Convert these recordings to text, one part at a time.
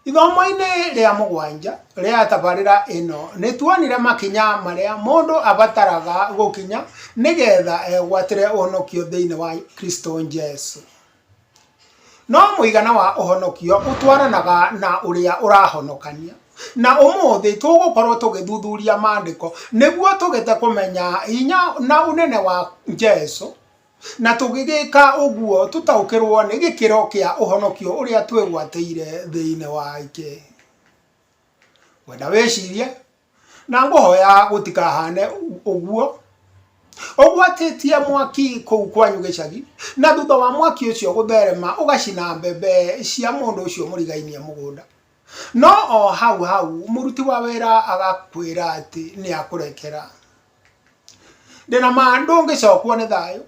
Ithomo-inĩ rĩa mũgwanja rĩa tabarĩra ĩno, nĩ tuonire makinya marĩa mũndũ abataraga gũkinya nĩgetha egwatĩre ũhonokio thĩinĩ wa Kristo Jesu. No mũigana wa ũhonokio ũtwaranaga na ũrĩa ũrahonokania. Na ũmũthĩ tũgũkorwo tũgĩthuthuria maandĩko nĩguo tũgĩte kũmenya hinya na ũnene wa Jesu. Na tũgĩgĩka ũguo tũtaũkĩrũo nĩ gĩkĩro kĩa ũhonokio ũrĩa twĩgwatĩire thĩinĩ wake. Ngwenda wĩcirie, na ngũhoya gũtikahane ũguo, ũgwatĩtie mwaki kũu kwanyu gĩcagi, na thutha wa mwaki ũcio gũtherema ũgacina mbembe cia mũndũ ũcio mũrigainie mũgũnda. No o hau hau mũruti wa wĩra agakwĩra atĩ nĩ akũrekera. Ndĩ na ma ndũngĩcokwo nĩ thayũ,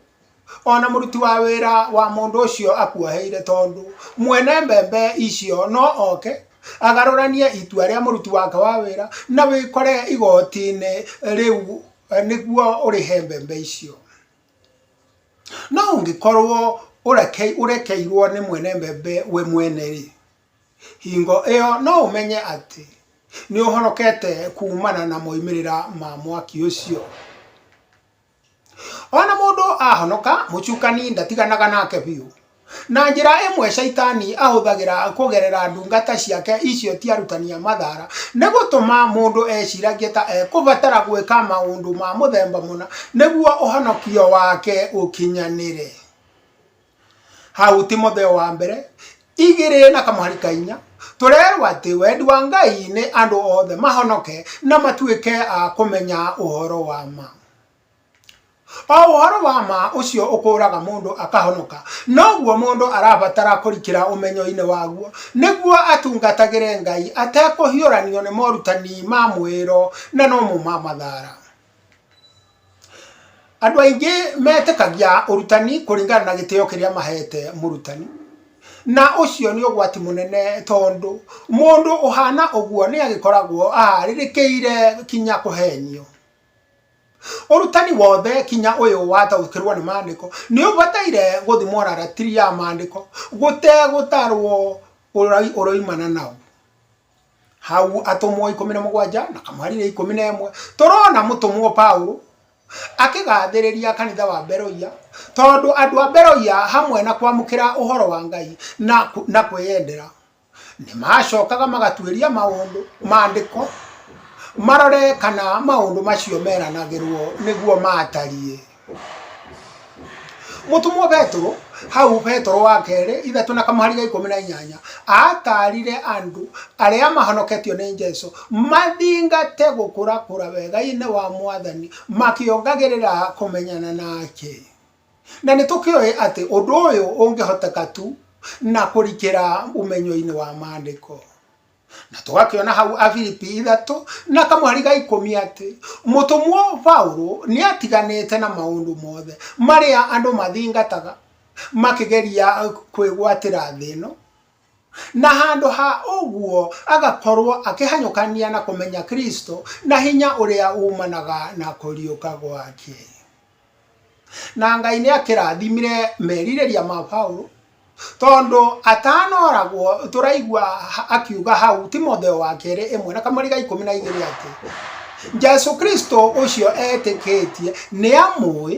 o na mũruti wa wĩra wa mũndũ ũcio akuoheire, tondũ mwene mbembe icio no oke agarũranie itua rĩa mũruti wake wa wĩra, na wĩkore igoti-inĩ rĩu nĩguo ũrĩhe mbembe icio. No ũngĩkorwo ũrekeirwo nĩ mwene mbembe we mwene-rĩ, Hingo ĩyo no ũmenye atĩ nĩ ũhonokete kuumana na moimĩrĩra ma mwaki ũcio. O na mũndũ ahonoka, Mũcukani ndatiganaga nake biũ. Na njĩra ĩmwe Shaitani ahũthagĩra kũgerera ndungata ciake icio ti arutani a mathaara, nĩ gũtũma mũndũ eciragie ta ekũbatara gwĩka maũndũ ma mũthemba mũna nĩguo ũhonokio wake ũkinyanĩre. hau timotheo wa mbere igĩrĩ na kamũhari ka inya tũrerwo atĩ wendi wa ngai nĩ andũ othe mahonoke na matuĩke a kũmenya ũhoro wa ma o ũhoro wa ma ũcio ũkũraga mũndũ akahonoka noguo mũndũ arabatara kũrikĩra ũmenyo-inĩ waguo nĩguo atungatagĩre ngai atekũhiũranio nĩ morutani ma mwĩro na nomũ ma mathara Andũ aingĩ metĩkagia ũrutani kũringana na gĩtĩo kĩrĩa mahete mũrutani, na ũcio nĩ ũgwati mũnene tondũ mũndũ ũhana ũguo nĩ agĩkoragwo aharĩrĩkĩire kinya kũhenio. Ũrutani wothe kinya ũyũ wataũkĩrwo nĩ mandĩko nĩ ũbataire gũthimwo na ratiri ya mandĩko gũtegũtarwo ũroimana naũ. hau atũmwo ikũmi na mũgwanja na kamwarĩria ikũmi na ĩmwe tũrona mũtũmwo Paulo akĩgathĩrĩria kanitha wa Beroia tondũ andũ a Beroia hamwe na kwamũkĩra ũhoro wa Ngai na, ku- na kwĩyendera nĩ macokaga magatuĩria maũndũ maandĩko marore kana maũndũ macio meranagĩrwo nĩguo matariĩ mũtũmwo petero hau petero wa kerĩ ithatũ na kamũhari ga ikũmi na inyanya atarire andũ arĩa mahonoketio nĩ jesu mathingate gũkũrakũra wega-inĩ wa mwathani makĩongagĩrĩra kũmenyana nake na nĩ tũkĩũĩ atĩ ũndũ ũyũ ũngĩhoteka tu na kũrikĩra ũmenyo-inĩ wa maandĩko na tũgakĩona hau abiripi ithatũ na kamweri ga ikũmi atĩ mũtũmwo paũlũ nĩ atiganĩte na maũndũ mothe marĩa andũ mathingataga makĩgeria kwĩgwatĩra thĩ ĩno na handũ ha ũguo agakorwo akĩhanyũkania na kũmenya kristo na hinya ũrĩa umanaga na kũriũka gwake Na Ngai nĩ akĩrathimire merirĩria ma Paulo tondũ atanoragwo tũraigua akiuga hau Timotheo wa kerĩ ĩmwe na kamũri ga ikũmi na igĩrĩ atĩ Jesu Kristo ũcio etĩkĩtie nĩ amũĩ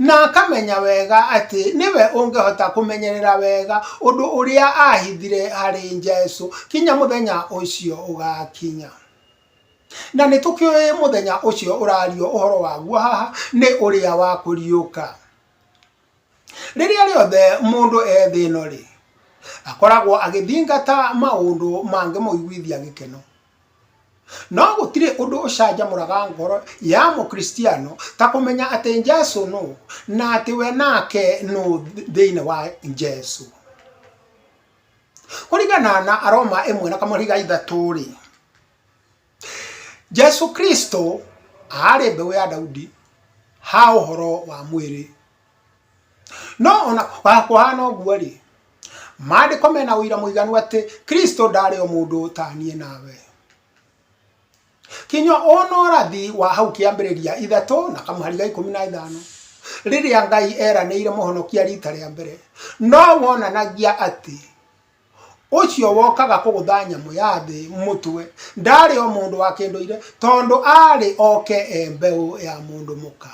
na akamenya wega atĩ nĩwe ũngĩhota kũmenyerera wega ũndũ ũrĩa ahithire harĩ Jesu kinya mũthenya ũcio ũgakinya. Na nĩ tũkĩũĩ mũthenya ũcio ũrario ũhoro waguo haha nĩ ũrĩa wa kũriũka. Rĩrĩa rĩothe mũndũ e thĩ ĩno rĩ, akoragwo agĩthingata maũndũ mangĩmũiguithia gĩkeno. No gũtirĩ ũndũ ũcanjamũraga ngoro ya mũkristiano ta kũmenya atĩ Jesu nũ na atĩ we nake nũ thĩinĩ wa Jesu. kũringana na aroma ĩmwe na kamũriga ithatũ rĩ jesu kristo aarĩ mbeũ ya daudi ha ũhoro wa mwĩrĩ no ona kũhana ũguo rĩ maandĩko mena ũira mũiganu atĩ kristo ndaarĩ o mũndũ ta niĩ nawe kinya ona ũrathi wa hau kĩambĩrĩria ithatũ na kamũhari ga ikũmi na ithano rĩrĩa ngai eranĩire mũhonokia rita rĩa mbere no wonanagia atĩ ũcio wokaga kũgũtha nyamũ ya thĩ mũtwe ndarĩ o mũndũ wa kĩndũire tondũ arĩ oke e mbeũ ya mũndũ mũka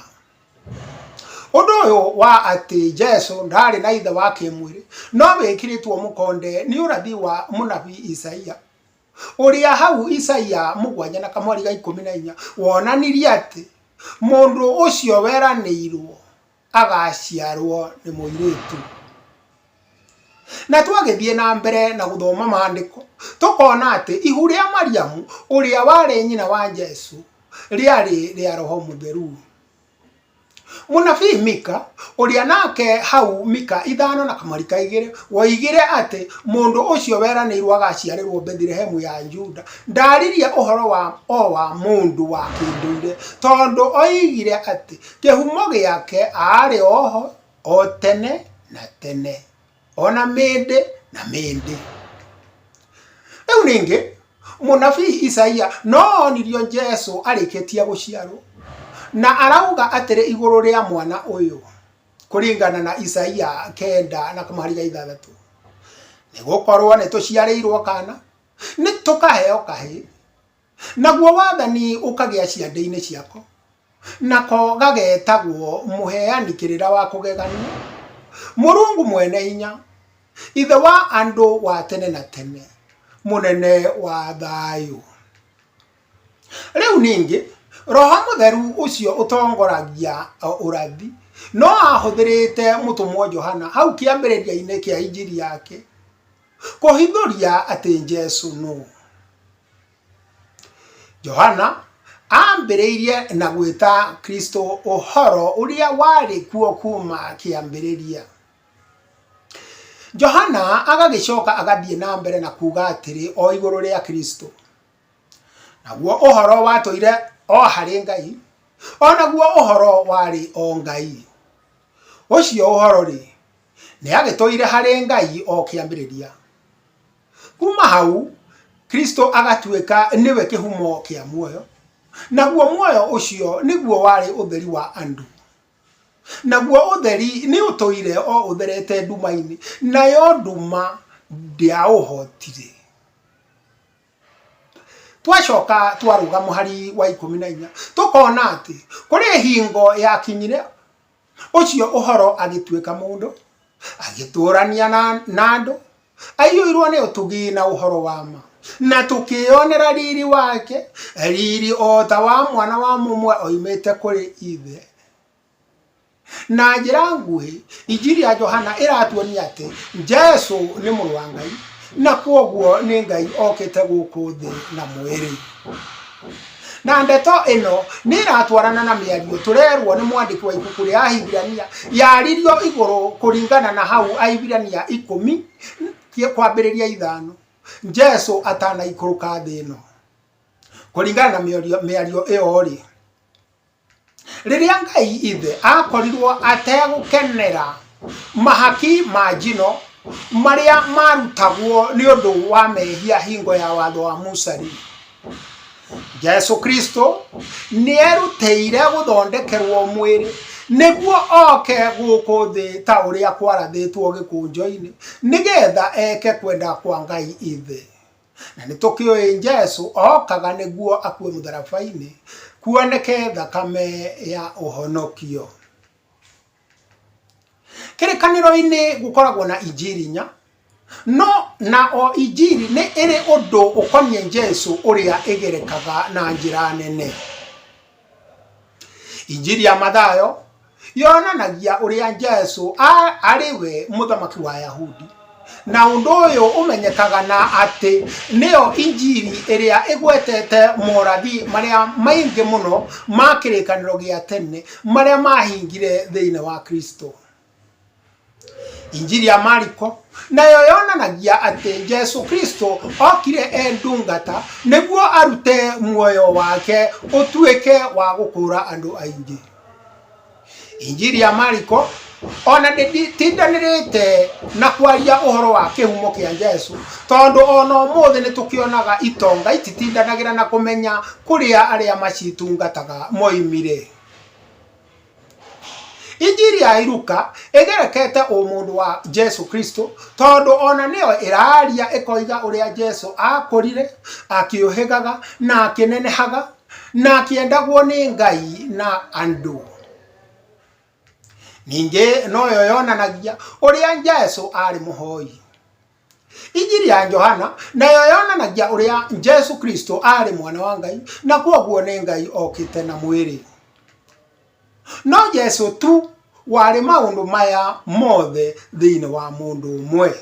ũndũ ũyũ wa atĩ jesu ndarĩ na ithe wa kĩmwĩrĩ no wĩkĩrĩtwo mũkonde nĩ ũrathi wa mũnabii isaia ũrĩa hau Isaia mũgwanja na kamwari ga ikũmi na inya wonanirie atĩ mũndũ ũcio weranĩirwo agaciarwo nĩ mũirĩtu. Na twagĩthiĩ na mbere na gũthoma maandĩko tũkona atĩ ihu rĩa Mariamu ũrĩa warĩ nyina wa Jesu rĩarĩ rĩa roho mũtheru. Mũnabii Mika, ũrĩa nake hau Mika ithano na kamarika igĩrĩ, woigire atĩ mũndũ ũcio weranĩirwo agaciarĩrwo Bethlehemu ya Juda, ndaaririe ũhoro wa o wa mũndũ wa kĩndũire, tondũ oigire atĩ kĩhumo gĩake aarĩ o ho o tene na tene. ona mĩndĩ na mĩndĩ rĩu ningĩ mũnabii isaia no onirio jesu arĩkĩtie gũciarwo na arauga atĩrĩ igũrũ rĩa mwana ũyũ kũringana na isaia kenda na kamũhariga ithathatũ nĩ gũkorwo nĩ tũciarĩirwo kana nĩ tũkaheo kahĩ Naguo wathani ũkagĩa ciande-inĩ ciako, nako gagetagwo mũheani kĩrĩra wa kũgeganio, Mũrungu mwene hinya, Ithe wa andũ wa tene na tene, Mũnene wa thayũ. Rĩu ningĩ, Roho Mũtheru ũcio ũtongoragia ũrathi, no ahũthĩrĩte mũtũmwo Johana hau kĩambĩrĩria-inĩ kĩa injiri yake, kũhithũria atĩ Jesu nũ. johana ambĩrĩirie na gwĩta kristo ũhoro ũrĩa warĩ kuo kuma kĩambĩrĩria johana agagĩcoka agathiĩ na mbere na kuga atĩrĩ o igũrũ rĩa kristo naguo ũhoro watũire o harĩ ngai o naguo ũhoro warĩ o ngai ũcio ũhoro-rĩ nĩ agĩtũire harĩ ngai o kĩambĩrĩria kuma hau kristo agatuĩka nĩwe kĩhumo kĩa muoyo naguo muoyo ũcio nĩguo warĩ ũtheri wa andũ naguo ũtheri nĩ ũtũire o ũtherete nduma-inĩ nayo nduma ndĩaũhotire twacoka twarũga mũhari wa ikũmi na inya tũkona atĩ kũrĩ hingo yakinyire Ũcio ũhoro agĩtuĩka mũndũ, agĩtũũrania na, na andũ, aiyũirwo nĩ ũtugi na ũhoro wa ma, na tũkĩonera riri wake, riri o ta wa mwana wa mũmwe oimĩte kũrĩ ithe. Na njĩra nguhĩ, injiri ya Johana ĩratuonia atĩ Jesu nĩ mũrũ wa Ngai, na kwoguo nĩ Ngai okĩte gũkũ thĩ na mwĩrĩ. Na ndeto ĩno nĩ ĩratwarana na mĩario tũrerwo nĩ mwandĩki wa ibuku rĩa Ahibirania yaririo igũrũ kũringana na hau Ahibirania ikũmi kwambĩrĩria ithano Jesu atanaikũrũka thĩ ĩno. Kũringana na mĩario ĩyo-rĩ, Rĩrĩa Ngai ithe aakorirwo ategũkenera mahaki ma njino marĩa maarutagwo nĩ ũndũ wa mehia hingo ya watho wa Musa-rĩ, Jesu Kristo nĩerutĩire gũthondekerwo mwĩrĩ nĩguo oke gũkũ thĩ ta ũrĩa kwarathĩtwo gĩkũnjo-inĩ, nĩgetha eke kwenda kwa Ngai ithe. na nĩ tũkĩũĩ Jesu okaga nĩguo akue mũtharaba-inĩ kuoneke thakame ya ũhonokio kĩrĩkanĩro-inĩ gũkoragwo na injiri inya no na o injiri nĩ ĩrĩ ũndũ ũkoniĩ Jesu ũrĩa ĩgerekaga na njĩra nene injiri ya mathayo yonanagia ũrĩa jesu a- arĩ we mũthamaki wa yahudi na ũndũ ũyũ ũmenyekaga na atĩ nĩyo injiri ĩrĩa ĩgwetete morathi marĩa maingĩ mũno ma kĩrĩkanĩro gĩa tene marĩa mahingire thĩinĩ wa kristo injiri ya mariko nayo yonanagia atĩ jesu kristo okire e ndungata nĩguo arute muoyo wake ũtuĩke wa gũkũra andũ aingĩ injiri ya mariko ona ndĩtindanĩrĩte na kwaria ũhoro wa kĩhumo kĩa jesu tondũ ona ũmũthĩ nĩ tũkĩonaga itonga ititindanagĩra na kũmenya kũrĩa arĩa macitungataga moimire injiri ya iruka ĩgerekete ũmũndũ wa jesu kristo tondũ ona nĩyo ĩraria ĩkoiga ũrĩa jesu akũrire akĩũhĩgaga na akĩnenehaga na akĩendagwo nĩ ngai na andũ ningĩ noyo yonanagia ũrĩa jesu arĩ mũhoi injiri ya johana nayo yonanagia ũrĩa jesu kristo aarĩ mwana wa ngai na kwoguo nĩ ngai okĩte na mwĩrĩ no jesu tu warĩ maũndũ maya mothe thĩinĩ wa mũndũ ũmwe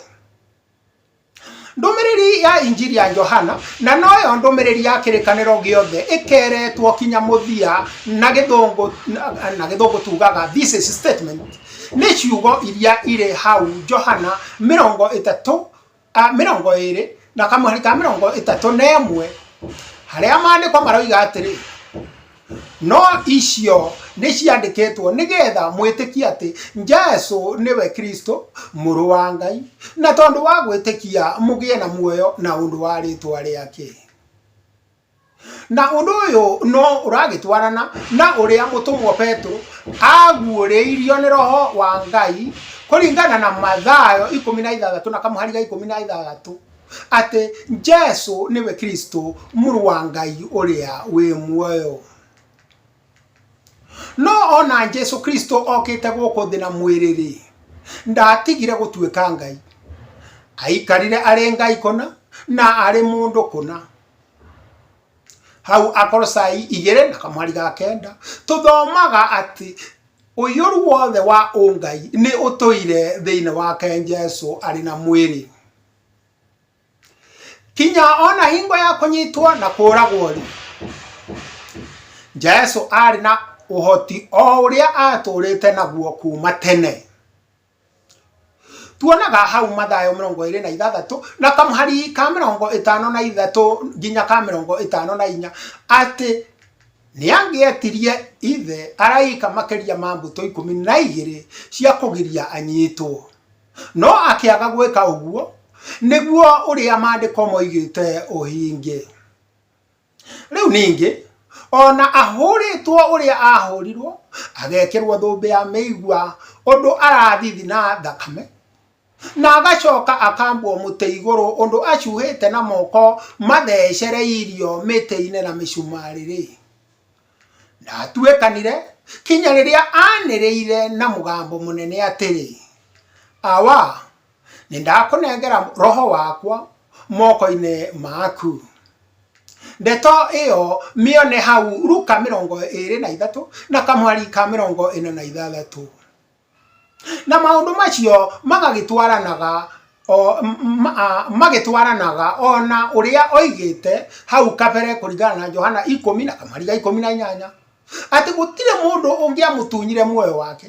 ndũmĩrĩri ya injiri ya johana na noyo ndũmĩrĩri ya kĩrĩkanĩro gĩothe ĩkeretwo kinya mũthia na gĩthũngũ na gĩthũngũ tugaga this is statement Nĩ ciugo iria irĩ hau Johana mĩrongo ĩtatũ, mĩrongo ĩrĩ na kamũhari ka mĩrongo ĩtatũ na ĩmwe, harĩa maandĩko maroiga atĩrĩ, No icio nĩ ciandĩkĩtwo nĩgetha mwĩtĩkie atĩ Jesu nĩwe Kristo, Mũrũ wa Ngai, na tondũ wa gwĩtĩkia mũgĩe na muoyo na ũndũ wa rĩĩtwa rĩake. na ũndũ ũyũ no ũragĩtwarana na ũrĩa mũtũmwo petũ aguũrĩirio nĩ roho wa ngai kũringana na mathayo ikũmi na ithathatũ na kamũhari ga ikũmi na ithathatũ atĩ jesu nĩwe kristo mũrũ wa ngai ũrĩa wĩ muoyo no ona jesu kristo okĩte gũkũ thĩ na mwĩrĩ-rĩ ndatigire gũtuĩka ngai aikarire arĩ ngai kũna na arĩ mũndũ kũna hau akorosai igere na kamwari ga kenda tuthomaga ati uiyuru wothe wa ungai ni utuire thiini wake Jesu ari na mwiri kinya ona hingo ya kunyitwo na kuragwo ri Jesu ari na uhoti o uria aturite naguo kuma tene tuonaga hau mathayo mĩrongo ĩrĩ na ithathatũ na kamũhari ka mĩrongo ĩtano na ithatũ nginya ka mĩrongo ĩtano na inya atĩ nĩ angĩetirie ithe araika makĩria ma mbũtũ ikũmi na igĩrĩ cia kũgiria anyitwo no akĩaga gwĩka ũguo nĩguo ũrĩa maandĩko moigĩte ũhinge Rĩu ningĩ, o na ahũrĩtwo ũrĩa aahũrirwo, agekĩrwo thũmbĩ ya mĩigua ũndũ arathithina thakame, na agacoka akambwo mũtĩ igũrũ ũndũ acuhĩte na moko mathecereirio mĩtĩ-inĩ na mĩcumarĩ-rĩ, Na atuekanire, kinya rĩrĩa aanĩrĩire na mũgambo mũnene atĩrĩ, Awa, nĩndakũnengera roho wakwa moko-inĩ maku. Ndeto ĩyo mĩone hau Luka mĩrongo ĩĩrĩ na ithatũ na kamwari ka mĩrongo ĩna na ithathatũ. Na maũndũ macio magagĩtwaranaga o magĩtwaranaga o na ũrĩa oigĩte hau kabere kũringana na Johana ikũmi na kamariga ikũmi na inyanya, atĩ gũtirĩ mũndũ ũngĩamũtunyire muoyo wake,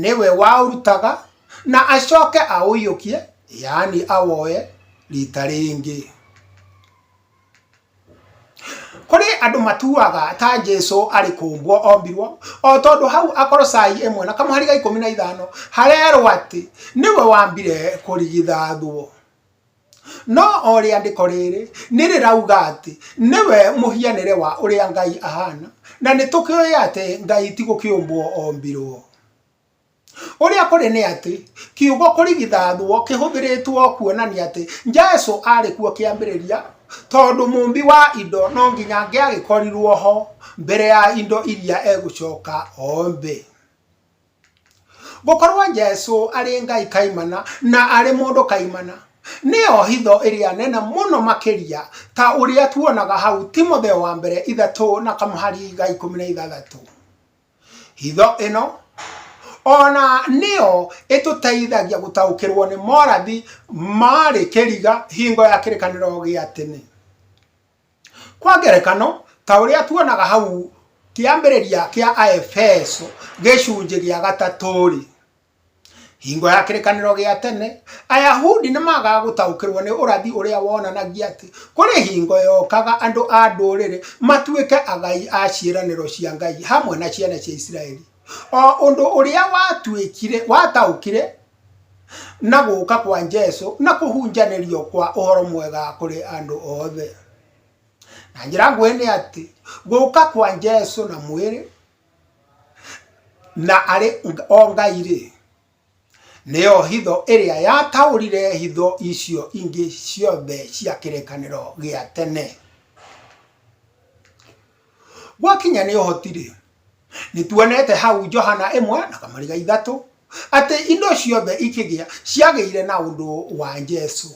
nĩwe waũrutaga na acoke aũiyũkie, yaani awoye rita rĩngĩ. Kũrĩ andũ matuaga ta Jesu arĩ kũũmbwo ombirwo, o tondũ hau Akorosai ĩmwe na kamũhari ga ikũmi na ithano harerwo atĩ nĩwe wambire kũrigithathwo. No o rĩandĩko rĩrĩ nĩ rĩrauga atĩ nĩwe mũhianĩre wa ũrĩa Ngai ahana, na nĩ tũkĩũĩ atĩ Ngai ti gũkĩũmbwo ombirwo. Ũrĩa kũrĩ nĩ atĩ, kiugo kũrigithathwo kĩhũthĩrĩtwo kuonania atĩ Jesu aarĩ kuo kĩambĩrĩria, tondũ mũũmbi wa indo no nginya angĩagĩkorirũo ho mbere ya indo iria egũcoka oombe. Gũkorũo Jesu arĩ Ngai kaimana na arĩ mũndũ kaimana, nĩyo hitho ĩrĩa nene mũno makĩria, ta ũrĩa tuonaga hau Timotheo wa Mbere ithatũ na kamũhari ga ikũmi na ithathatũ. Hitho ĩno ona nĩyo ĩtũteithagia gũtaũkĩrwo nĩ morathi marĩ kĩriga hingo ya kĩrĩkanĩro gĩa tene. Kwa ngerekano, ta ũrĩa tuonaga hau kĩambĩrĩria kĩa Aefeso gĩcunjĩ gĩa gatatũ-rĩ, hingo ya kĩrĩkanĩro gĩa tene ayahudi nĩ magaga gũtaũkĩrwo nĩ ũrathi ũrĩa wonanagia atĩ kũrĩ hingo yokaga andũ a ndũrĩrĩ matuĩke agai a ciĩranĩro cia ngai hamwe na ciana cia isiraeli o ũndũ ũrĩa watuĩkire wataũkire na gũka kwa jesu na kũhunjanĩrio kwa ũhoro mwega kũrĩ andũ othe na njĩra nguhĩ nĩ atĩ gũka kwa jesu na mwĩrĩ Na arĩ o Ngai-rĩ, nĩyo hitho ĩrĩa yataũrire hitho icio ingĩ ciothe cia kĩrĩkanĩro gĩa tene. Gwakinya nĩ ũhoti-rĩ, nĩtuonete hau Johana ĩmwe na kamariga ithatũ, atĩ indo ciothe ikĩgĩa ciagĩire na ũndũ wa Jesũ.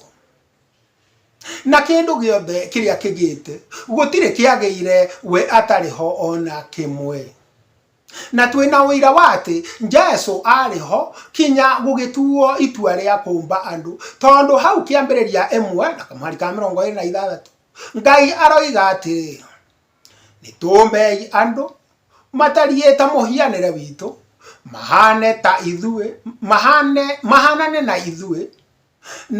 Na kĩndũ gĩothe kĩrĩa kĩgĩte, gũtirĩ kĩagĩire we atarĩ ho o na kĩmwe. Na twĩ na ũira wa atĩ Jesu aarĩ ho kinya gũgĩtuo itua rĩa kũmba andũ, tondũ hau kĩambĩrĩria 1:26, Ngai aroiga atĩrĩ, Nĩtũmbei andũ matariĩ ta mũhianĩre witũ, mahaane ta ithuĩ, mahaane, mahaanane na ithuĩ,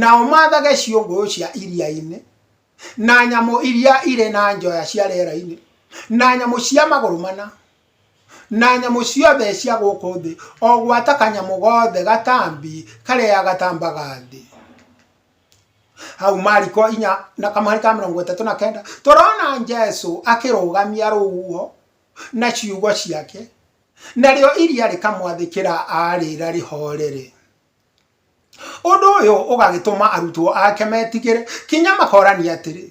Nao maathage ciũngũyũ cia iria-inĩ, na nyamũ iria irĩ na njoya cia rĩera-inĩ, na nyamũ cia magũrũ mana, na nyamũ ciothe cia gũkũ thĩ, o gwata kanyamũ gothe gatambi karĩa gatambaga thĩ. Hau Mariko inya na kamũhari ka mĩrongo ĩtatũ na kenda, tũrona Jesu akĩrũgamia rũhuho na ciugo ciake, narĩo iria rĩkamwathĩkĩra arĩra rĩhoorere. Ũndũ ũyũ ũgagĩtũma arutwo ake metigĩre kinya makorania atĩrĩ,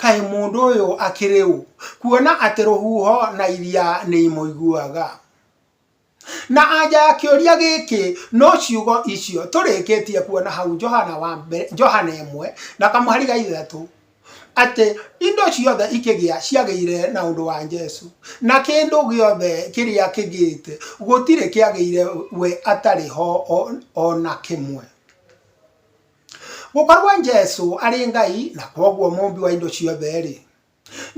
kaĩ mũndũ ũyũ akĩrĩ ũ, kuona atĩ rũhuho na iria nĩ imũiguaga? Na anja ya kĩũria gĩkĩ no ciugo icio tũrĩkĩtie kuona hau Johana wa mbere, Johana ĩmwe na kamũhari ga ithatũ. atĩ indo ciothe ikĩgĩa ciagĩire na ũndũ wa Jesu, na kĩndũ gĩothe kĩrĩa kĩgĩte gũtirĩ kĩagĩire we atarĩ ho o na kĩmwe. Gũkorwo Jesu arĩ Ngai na kwoguo mũmbi wa indo ciothe-rĩ,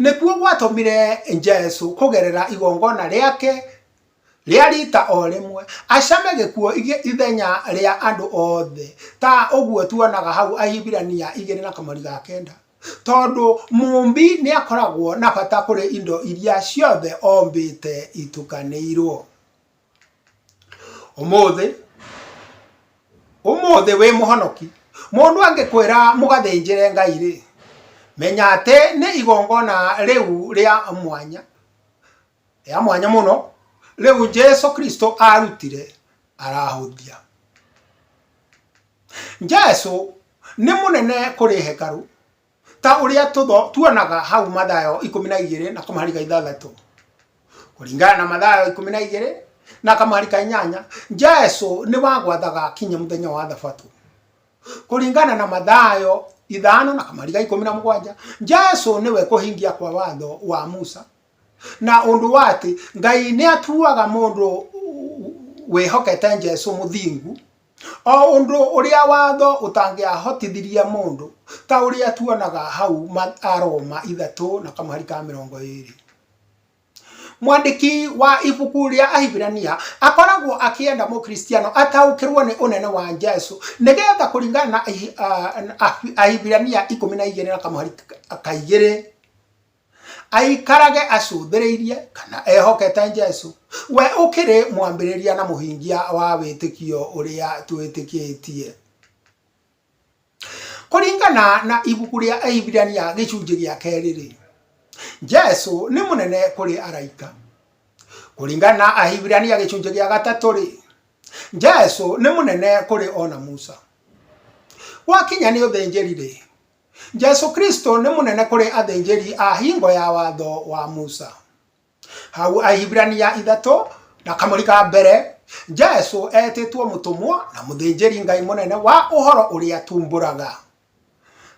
nĩkuo gwatũmire Jesu kũgerera igongona rĩake rĩa riita o rĩmwe, acame gĩkuũ ithenya rĩa andũ othe, ta ũguo tuonaga hau Ahibirania igĩrĩ na kamũri ga kenda. Tondũ mũũmbi nĩ akoragwo na bata kũrĩ indo iria ciothe ombĩte itukanĩirwo. Ũmũthĩ, ũmũthĩ wĩ mũhonoki. Mũndũ angĩkwĩra mũgathĩnjĩre Ngai-rĩ, menya atĩ nĩ igongona rĩu rĩa mwanya. ya mwanya mũno rĩu jesu kristo arutire arahũthia jesu nĩ mũnene kũrĩ hekarũ ta ũrĩa tũtho tuonaga hau mathayo ikũmi na igĩrĩ na kamahari ka ithathatũ kũringana na mathayo ikũmi na igĩrĩ na kamahari ka inyanya jesu nĩ wagwathaga kinya mũthenya wa thabatũ kũringana na mathayo ithano na kamahari ka ikũmi na mũgwanja jesu nĩwe kũhingia kwa watho wa musa Na ũndũ wa atĩ Ngai nĩ atuaga mũndũ wĩhokete Jesu mũthingu, o ũndũ ũrĩa watho ũtangĩahotithirie mũndũ, ta ũrĩa tuonaga hau Aroma ithatũ na kamũhari ka mĩrongo ĩrĩ. Mwandĩki wa ibuku rĩa Ahibirania akoragwo akĩenda Mũkristiano ataũkĩrũo nĩ ũnene wa Jesu, nĩgetha kũringana na Ahibirania ikũmi na igĩrĩ na kamũhari ka igĩrĩ, aikarage acũthĩrĩirie kana ehokete Jesu, we ũkĩrĩ mwambĩrĩria na mũhingia wa wĩtĩkio ũrĩa twĩtĩkĩtie. Kũringana na ibuku rĩa Ahibirania gĩcunjĩ gĩa kerĩ-rĩ, Jesu nĩ mũnene kũrĩ araika. Kũringana na Ahibirania gĩcunjĩ gĩa gatatũ-rĩ, Jesu nĩ mũnene kũrĩ ona Musa. Gwakinya nĩ ũthĩnjĩri-rĩ, Jesu Kristo nĩ mũnene kũrĩ athĩnjĩri a hingo ya watho wa Musa. Hau Ahibirania ithatũ na kamũri ka mbere, Jesu etĩtwo mũtũmwo na mũthĩnjĩri Ngai mũnene wa ũhoro ũrĩa tumbũraga.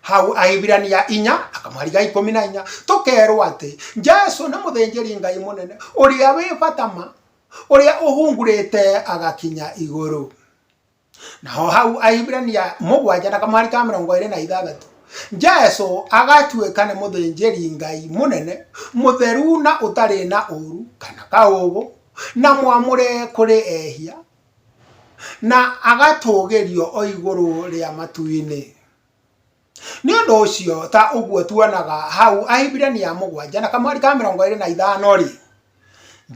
Hau Ahibirania inya na kamũri ga ikũmi na inya, tũkerwo atĩ Jesu nĩ mũthĩnjĩri Ngai mũnene ũrĩa wĩ bata ma, ũrĩa ũhungurĩte agakinya igũrũ. naho hau ahibirania mũgwanja na kamwari ka mĩrongo ĩrĩ na ithathatũ jesu agatuĩka nĩ mũthĩnjĩri ngai mũnene mũtheru na ũtarĩ na ũru kana kaũgũ na mwamũre kũrĩ ehia na agatũgĩrio o igũrũ rĩa matu-inĩ Nĩ ũndũ ũcio, ta ũguo tuonaga hau Ahibirania mũgwanja na kamweri ka mĩrongo ĩrĩ na ithano-rĩ,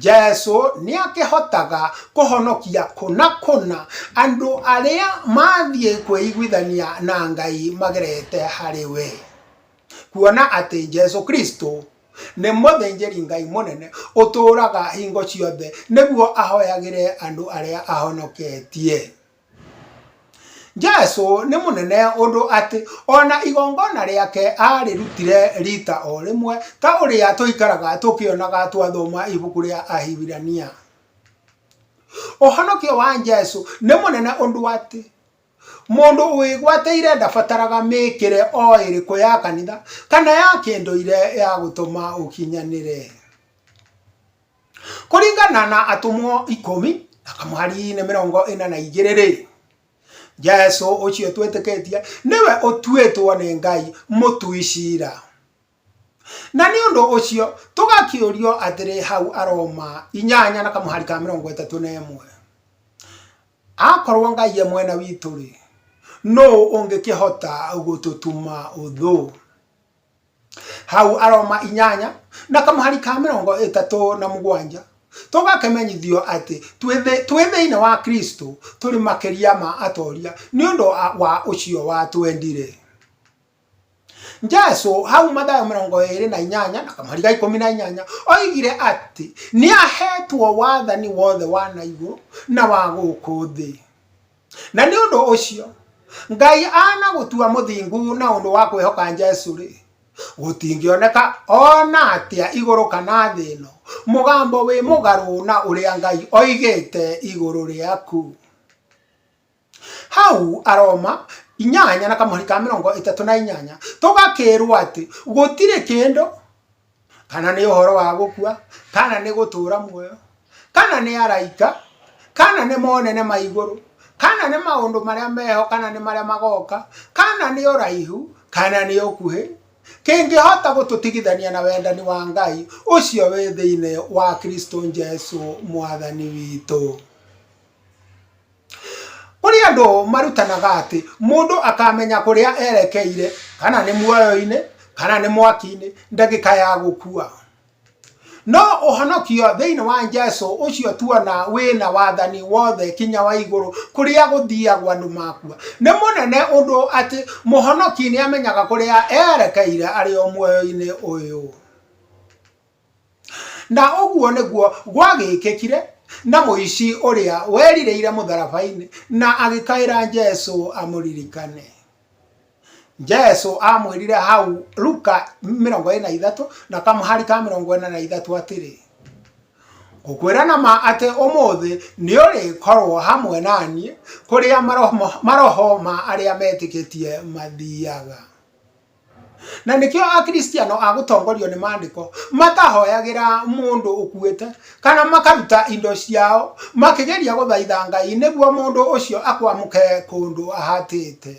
Jesu nĩ akĩhotaga kũhonokia kũna kũna andũ arĩa mathiĩ kwĩiguithania na Ngai magerete harĩ we. Kuona atĩ Jesu Kristo nĩ mũthĩnjĩri Ngai mũnene ũtũũraga hingo ciothe nĩguo ahoyagĩre andũ arĩa ahonoketie. jesu nĩ mũnene ũndũ atĩ ona igongona rĩake arĩrutire rita o rĩmwe ta ũrĩa tũikaraga tũkĩonaga twathoma ibuku rĩa ahibirania ũhonokio wa jesu nĩ mũnene ũndũ atĩ mũndũ wĩgwatĩire ndabataraga mĩkĩre o ĩrĩkũ ya kanitha kana ya kĩndũire ya gũtũma ũkinyanĩre Kũringana na atũmwo ikũmi na kamwari-inĩ mĩrongo ĩna na igĩrĩ rĩ, Jesu ũcio twĩtĩkĩtie nĩwe ũtuĩtwo nĩ Ngai mũtui cira. Na nĩ ũndũ ũcio tũgakĩũrio atĩrĩ hau Aroma inyanya na kamũhari ka mĩrongo ĩtatũ na ĩmwe, akorwo Ngai e mwena witũ rĩ, nũ ũngĩkĩhota gũtũtuma ũthũ? hau aroma inyanya na kamũhari ka mĩrongo ĩtatũ na mũgwanja tũgakĩmenyithio atĩ twĩ thĩinĩ wa kristo tũrĩ makĩria ma atoria nĩ ũndũ wa ũcio watwendire jesu hau mathayo mĩrongo ĩrĩ na inyanya na kamũhari ga ikũmi na inyanya oigire atĩ nĩ ahetwo wathani wothe wa na igũrũ na wa gũkũ thĩ na nĩ ũndũ ũcio ngai ana gũtua mũthingu na ũndũ wa kwĩhoka jesu rĩ gũtingĩoneka ona atĩa igũrũ kana thĩ ĩno mũgambo wĩ mũgarũ na ũrĩa ngai oigĩte igũrũ rĩaku hau aroma inyanya na kamũhari ka mĩrongo ĩtatũ na inyanya tũgakĩrwo atĩ gũtirĩ kĩndũ kana nĩ ũhoro wa gũkua kana nĩ gũtũra muoyo kana nĩ araika kana nĩ monene ma igũrũ kana nĩ maũndũ marĩa meho kana nĩ marĩa magoka kana nĩ ũraihu kana nĩ ũkuhĩ kĩngĩhota gũtũtigithania na wendani wa ngai ũcio wĩ thĩinĩ wa kristo jesu mwathani witũ Kũrĩ andũ marutanaga atĩ mũndũ akamenya kũrĩa erekeire kana nĩ muoyo-inĩ kana nĩ mwaki-inĩ ndagĩka ya gũkua. No ũhonokio thĩinĩ wa Jesũ ũcio tuona wĩna wathani wothe kinya wa igũrũ kũrĩa gũthiagwo andũ makua. Nĩ mũnene ũndũ atĩ mũhonoki nĩ amenyaga kũrĩa erekeire arĩ o muoyo-inĩ ũyũ. Na ũguo nĩguo gwagĩkĩkire na mũici ũrĩa werirĩire mũtharaba-inĩ na agĩkaĩra Jesu amũririkane. Jesu amwĩrire hau Luka mĩrongo ĩna na ithatũ na kamũhari ka mĩrongo ĩna na ithatũ atĩrĩ, ngũkwĩra na ma atĩ ũmũthĩ nĩ ũrĩkorwo hamwe naniĩ kũrĩa maroho ma arĩa metĩkĩtie mathiaga. Na nĩkĩo Akristiano a gũtongorio nĩ maandĩko matahoyagĩra mũndũ ũkuĩte kana makaruta indo ciao makĩgeria gũthaitha Ngai nĩguo mũndũ ũcio akwamũke kũndũ ahatĩte.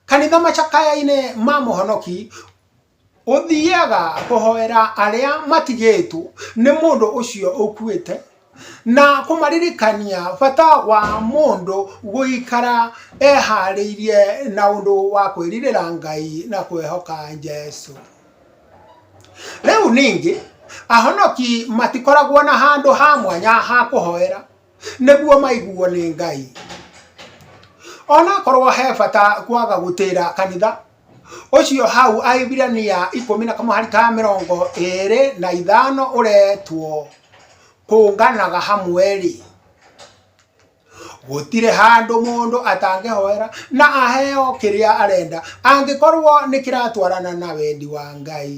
Kanitha macakaya-inĩ ma mũhonoki ũthiaga kũhoera arĩa matigĩtwo nĩ mũndũ ũcio ũkuĩte na kũmaririkania bata wa mũndũ gũikara eharĩirie na ũndũ wa kwĩrirĩra Ngai na kwĩhoka Jesu. Rĩu ningĩ, ahonoki matikoragwo na handũ ha mwanya ha kũhoera nĩguo maiguo nĩ Ngai. Onakorwo he bata kwaga gũtĩra kanitha, ũcio hau ahibirania ikũmi na kamwe harĩ ka mĩrongo ĩrĩ na ithano ũretwo kũnganaga hamwe-rĩ gũtirĩ handũ mũndũ atangĩhoera na aheo kĩrĩa arenda angĩkorwo nĩ kĩratwarana na wendi wa ngai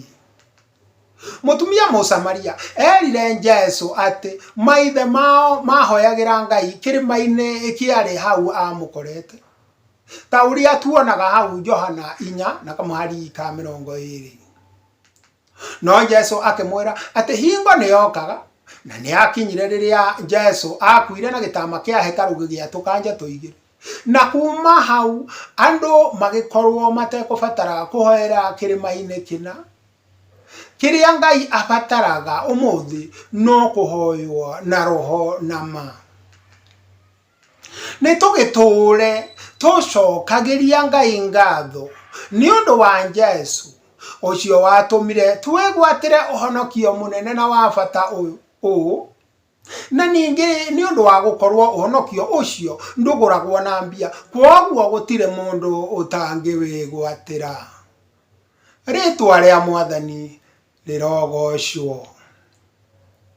Mũtumia Mũsamaria erire Jesu atĩ maithe mao maahoyagĩra Ngai kĩrĩma-inĩ kĩarĩ hau aamũkorete, ta ũrĩa tuonaga hau Johana 4:20. No Jesu akĩmwĩra atĩ hingo nĩ yokaga, na nĩ yakinyire rĩrĩa Jesu aakuire na gĩtama kĩa hekarũ gĩgĩatũkanja tũigĩrĩ. Na kuuma hau andũ magĩkorũo matekũbatara kũhoera kĩrĩma-inĩ kĩna. Kĩrĩa Ngai abataraga ũmũthĩ no kũhoywo na roho na ma. Nĩ tũgĩtũũre tũcokagĩria Ngai ngatho nĩ ũndũ wa Jesu, ũcio watũmire twĩgwatĩre ũhonokio mũnene na wa bata ũũ, Na ningĩ nĩ ũndũ wa gũkorũo ũhonokio ũcio ndũgũragwo na mbia, kwoguo gũtirĩ mũndũ ũtangĩwĩgwatĩra. Rĩĩtwa rĩa Mwathani rĩrogoocwo!